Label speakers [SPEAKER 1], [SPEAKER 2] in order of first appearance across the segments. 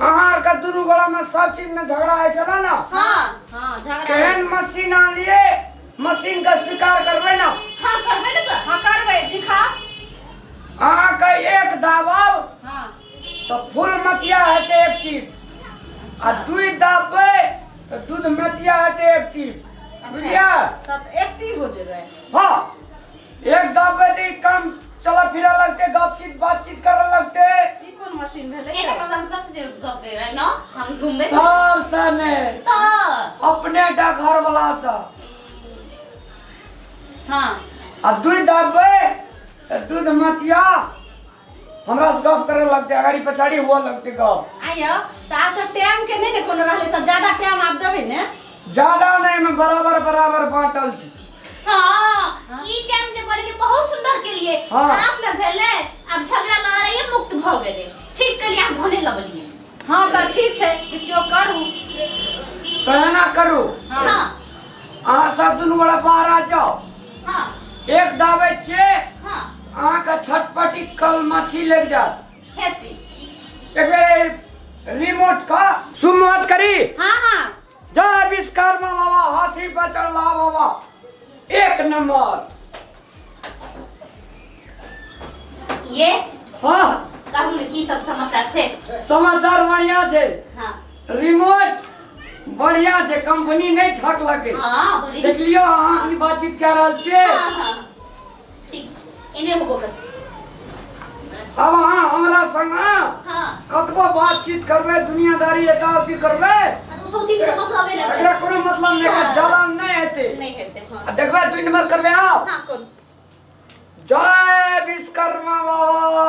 [SPEAKER 1] अहाँ आरके दुनू गोलामे सब चीजमे झगड़ा होइ छलै ने हाँ हाँ झगड़ा
[SPEAKER 2] केहन मशीन
[SPEAKER 1] आनलिए मशीनके स्वीकार करबै ने हाँ करबै ने तऽ
[SPEAKER 2] हाँ करबै दिखा
[SPEAKER 1] अहाँके एक दाबब हाँ तऽ
[SPEAKER 3] फूल
[SPEAKER 1] मतिया हेतै एक चीज आ दूध दाबबै तऽ दूध मतिया हेतै एक चीज बुझलियै अच्छा तब एक्टिव
[SPEAKER 3] हो जेबै हाँ
[SPEAKER 1] एक दाब बेटी काम चला फिरा लगते गपचित बातचीत करऽ लगते ई कोन
[SPEAKER 3] मशीन
[SPEAKER 2] भेलै एने प्रशंसा से जे गप दे रहे न हम
[SPEAKER 1] घूमबे सब सने
[SPEAKER 2] त अपने
[SPEAKER 1] डाकघर वाला सा हां
[SPEAKER 2] आ दूध
[SPEAKER 1] दाबे त दूध मतिया हमरा से गप करे लगते अगाड़ी पछाड़ी हुआ लगते गप आइयो तो आज तक
[SPEAKER 3] टाइम के नहीं ने कोनो रहले तो ज्यादा टाइम आप देवे ने ज्यादा नहीं
[SPEAKER 1] में बराबर बराबर बांटल छी हाँ
[SPEAKER 2] ई टाइम जे बोलली बहुत सुंदर के लिए हाँ। आप न भेले अब झगड़ा लड़ाई मुक्त भ गेले ठीक के लिए आप भने लगलिए हाँ तो ठीक
[SPEAKER 3] है इसको करू
[SPEAKER 1] कहना करू
[SPEAKER 2] हाँ अहाँ
[SPEAKER 1] सब दुनू बड़ा बाहर आ जाओ हाँ
[SPEAKER 2] एक दाबे
[SPEAKER 1] छे हाँ अहाँके छटपटी कल मछी लग जात खेती
[SPEAKER 2] एक
[SPEAKER 1] बेर रिमोट का सुमोट करी हाँ हाँ
[SPEAKER 3] जय
[SPEAKER 1] विश्वकर्मा बाबा हाथी पर चढ़ला बाबा एक नंबर ये
[SPEAKER 2] हाँ
[SPEAKER 1] कहू ने की
[SPEAKER 2] सब समाचार छै समाचार बढ़िया
[SPEAKER 1] छै हाँ
[SPEAKER 2] रिमोट
[SPEAKER 1] बढ़िया छै कंपनी नहीं ठकलकै हाँ बड़ी देखलियो
[SPEAKER 2] अहाँ की
[SPEAKER 1] बातचीत कह रहल छियै हाँ हाँ
[SPEAKER 2] ठीक छै इने
[SPEAKER 1] होबो करतै अब अहाँ हमरा संग हाँ कतबो
[SPEAKER 2] बातचीत
[SPEAKER 1] करबै दुनियादारी एटा की करबै आ तो सौती के
[SPEAKER 2] मतलबे नहीं एकरा कोनो मतलब नहीं
[SPEAKER 1] है जलन नहीं हेतै नहीं हेतै हाँ आ देखबै
[SPEAKER 2] दुई नंबर करबै
[SPEAKER 1] आब हाँ कौन
[SPEAKER 2] जय
[SPEAKER 1] विश्वकर्मा बाबा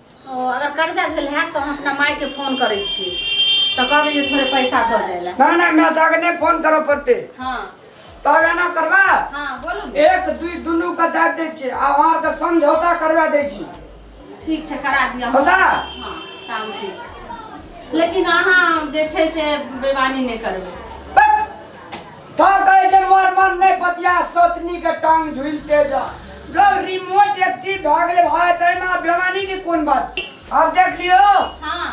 [SPEAKER 1] ओ अगर
[SPEAKER 3] कर्जा भेल है तो हम अपना माय के फोन करे छी तो कहबे जे थोड़े पैसा दो जाए ला ना ना ना तो अगर नहीं
[SPEAKER 1] फोन करो पड़ते हाँ
[SPEAKER 3] तो अगर ना
[SPEAKER 1] करवा हाँ बोलू ने
[SPEAKER 3] एक दुई दुनू के
[SPEAKER 1] दे दे छी आ वहां के समझौता करवा दे छी ठीक छै करा
[SPEAKER 3] दिया हम। पता हाँ
[SPEAKER 1] शांति
[SPEAKER 3] लेकिन अहाँ जे छै से बेमानी नहि करबै बस
[SPEAKER 1] का कहै छै मोर मन नै पतिया सतनी के टांग झुलते जा जब रिमोट एक्टिव भ गेले भाय तै में आब बेमानी के कोन बात छै? आब देख लियो
[SPEAKER 3] हाँ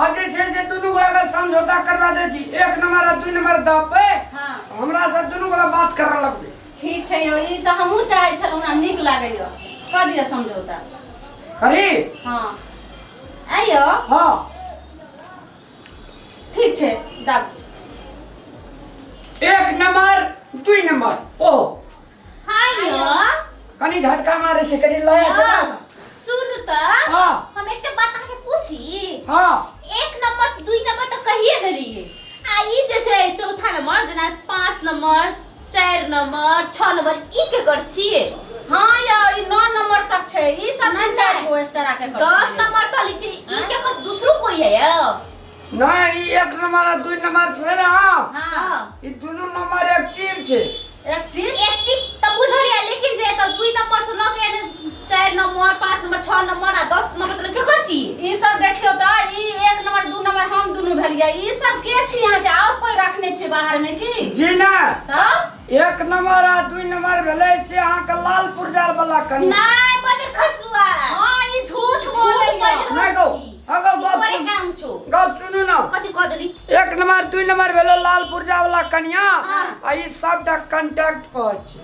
[SPEAKER 1] आब जे छै से दुनू गोरा के समझौता करवा दै छी एक नंबर आ दू नंबर दापे हाँ हमरा
[SPEAKER 3] से दुनू
[SPEAKER 1] गोरा बात करऽ लगबे ठीक छै यौ ई
[SPEAKER 3] तऽ हमहूँ चाहै छलहुँ हमरा नीक लागैए कऽ दिअ समझौता करी हाँ आइयो हाँ ठीक छै दाब
[SPEAKER 1] एक नंबर दुई नंबर ओ हाँ यो
[SPEAKER 2] कनी झटका
[SPEAKER 1] मारे से कनी लया हाँ, चला सुन त
[SPEAKER 2] हाँ। हम एक
[SPEAKER 1] के बात
[SPEAKER 2] से पूछी हाँ
[SPEAKER 1] एक नंबर
[SPEAKER 2] दुई नंबर तो कहिए देलिए आ ई जे छै चौथा नंबर जेना पाँच नंबर चारि नंबर छह नंबर ई के कर छिए हां या
[SPEAKER 3] ई 9 नंबर तक छै ई सब नहीं, नहीं। चार गो एक्स्ट्रा के
[SPEAKER 2] कर
[SPEAKER 3] दस छिए। नंबर तक लिखी
[SPEAKER 2] ई के कर दूसरो कोई है या नहीं ई
[SPEAKER 1] एक नंबर आ दुई नंबर छै ना हां ई
[SPEAKER 3] दुनू
[SPEAKER 1] नंबर एक चीज छै एक चीज एक
[SPEAKER 3] टिक त
[SPEAKER 2] बुझलिए लेकिन जे त दुई नंबर से लगे ने चारि नंबर पाँच नंबर छओ नंबर आ दस नंबर तक केकर छी ई सब देखियो त
[SPEAKER 3] ई एक नंबर दू नंबर हम दुनू भेलिए ई सब के छी अहाँ के आउ कोई रखने छी बाहर में की जी ना तब
[SPEAKER 1] एक
[SPEAKER 3] नंबर आ
[SPEAKER 1] दू नंबर भेलै से अहाँ के लाल पुरजार वाला कनी नहीं बजे
[SPEAKER 2] खसुआ हां ई झूठ
[SPEAKER 3] बोले नहीं गो अगो गप तोरे
[SPEAKER 1] सुन-
[SPEAKER 2] काम छो
[SPEAKER 1] गप सुनू
[SPEAKER 2] ना कथी कह
[SPEAKER 1] देली एक
[SPEAKER 2] नंबर दू
[SPEAKER 1] नंबर भेलो लाल पुरजा वाला कनिया हाँ। आ ई
[SPEAKER 2] सबटा
[SPEAKER 1] कंटेक्ट पर छै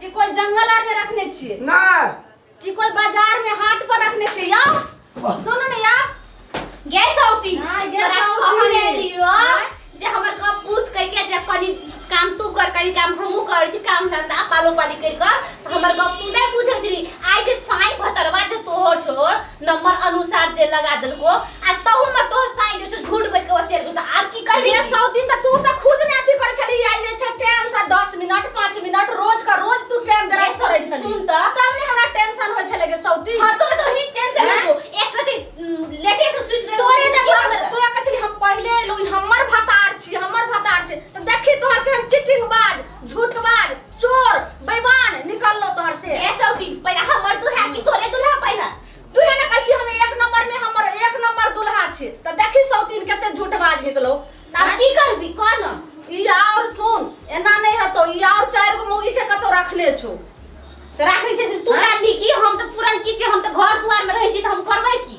[SPEAKER 1] कि कोई जंगल
[SPEAKER 3] आर में रखने छिए नहीं
[SPEAKER 1] कि कोई
[SPEAKER 3] बाजार में हाट पर रखने छिए या सुनो ना या गैस
[SPEAKER 2] औती हां गैस औती
[SPEAKER 3] ले लियो
[SPEAKER 2] जे हमर का पूछ कह के जे कनी काम तू कर कनी काम हमहु कर छी काम धंधा पालो पाली कर कर हमर गप तू नहीं पूछे छी आज साई भतरवा जे तोहर छोड़ नंबर अनुसार जे लगा देलको आ तहू में तोर साई जे छै झूठ बैस के चल गेल आब की करबी मेरा सौ दिन तक तू त
[SPEAKER 3] खुद ने अथी कर छली आइ जे छै टाइम से 10 मिनट 5 मिनट रोज का रोज तू टाइम दरा सरै छली सुन त तब ने हमरा
[SPEAKER 2] टेंशन
[SPEAKER 3] होय छले के सौ दिन हां तोरे तो ही टेंशन
[SPEAKER 2] है एक प्रति लेटे से सुत रहे तोरे ने घर तोरा
[SPEAKER 3] कछली हम पहले एलु हमर भतार छी हमर भतार छी त देखी तोहर के हम चिटिंग बाज झूठ बाज चोर बेईमान निकल लो तोहर से ए सौती पहिला हमर
[SPEAKER 2] दुल्हा की तोरे दुल्हा पहिला तू है ना कशी
[SPEAKER 3] हम एक नंबर में हमर एक नंबर दुल्हा छे त देखी सौतीन केते झूठ बाज निकलो तब की करबी
[SPEAKER 2] कोन ई और
[SPEAKER 3] सुन एना नहीं हतो ई और चार गो मुगी के कतो रखले छो राखनी
[SPEAKER 2] छै से तू हाँ? जानबी की हम त पुरन की छी हम त घर दुआर में रहै छी त हम करबै की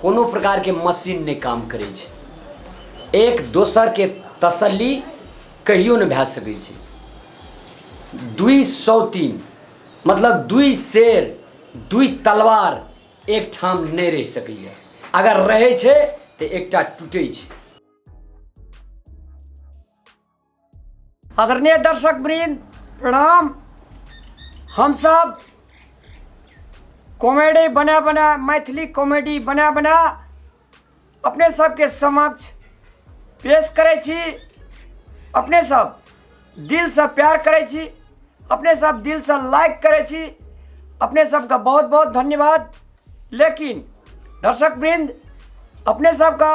[SPEAKER 1] कोनो प्रकारके मशीन नहि काम करै छै एक दोसरके तसल्ली कहियो नहि भए सकै छै दुई सौतीन मतलब दुई शेर दुई तलवार एकठाम नहि रहि सकैए अगर रहै छै तऽ एकटा टूटै छै आदरणीय दर्शक वृंद प्रणाम हम सब कॉमेडी बना बना मैथिली कॉमेडी बना बना अपने सबके समक्ष पेश करै छी अपने सब दिलसँ प्यार करै छी अपने सब दिलसँ लाइक करै छी अपने सबके बहुत बहुत धन्यवाद लेकिन दर्शक वृंद अपने सबके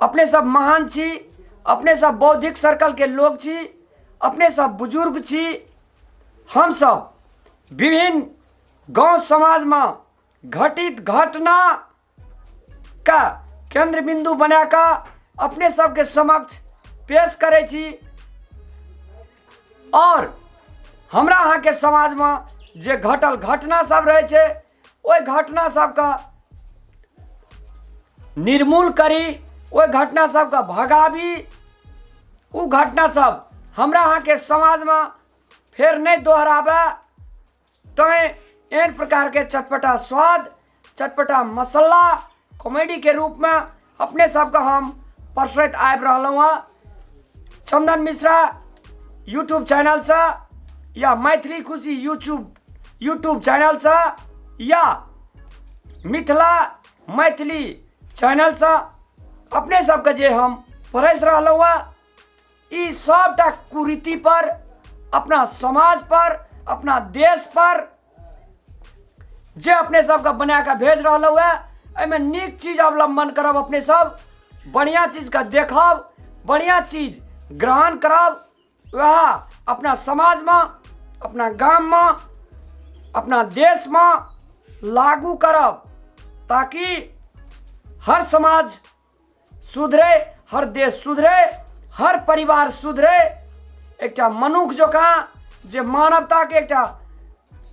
[SPEAKER 1] अपने सब महान छी अपने सब बौद्धिक सर्कल के लोग छी अपने सब बुजुर्ग छी हम सब विभिन्न गांव समाज में घटित घटना का केंद्र बिंदु बना का अपने सबके समक्ष पेश करे छी और हमरा अहाँके समाजमे जे घटल घटना सब रहै छै ओहि घटना सबके निर्मूल करी ओहि घटना सबके भगाबी ओ घटना सब हमरा अहाँके समाजमे फेर नहि दोहराबे तैँ एहन प्रकारके चटपटा स्वाद चटपटा मसल्ला कॉमेडी के रूप में अपने सबके हम परसैत आबि रहलहुँ हँ चंदन मिश्रा यूट्यूब चैनल से या Maithili Khushi YouTube YouTube channel से या मिथिला मैथिली चैनल से अपने सबके जे हम परसि रहलहुँ हँ ई सबटा कुरीति पर अपना समाज पर अपना देश पर जे अपने सबके बना कऽ भेज रहल है एहिमे नीक चीज अवलंबन करब अपने सब बढ़िया चीज के देखब बढ़िया चीज ग्रहण करब वह अपना समाज में अपना गाम में अपना देश में लागू करब ताकि हर समाज सुधरे हर देश सुधरे हर परिवार सुधरे एकटा मनुख जकाँ जे मानवताके एकटा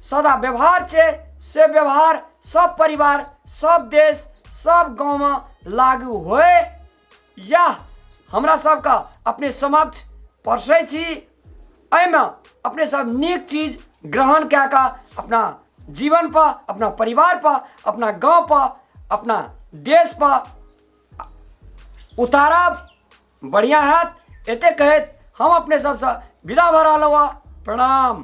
[SPEAKER 1] सदा व्यवहार छै से व्यवहार सब परिवार सब देश सब गाँवमे लागू होय इएह हमरा सबके अपने समक्ष परसै छी एहिमे अपने सब नीक चीज ग्रहण कए कऽ अपना जीवन पर अपना परिवार पर अपना गाँव पर अपना देश पर उतारब बढ़िआँ हैत एतेक कहैत हम अपने सबसँ विदा भऽ रहलहुँ हँ प्रणाम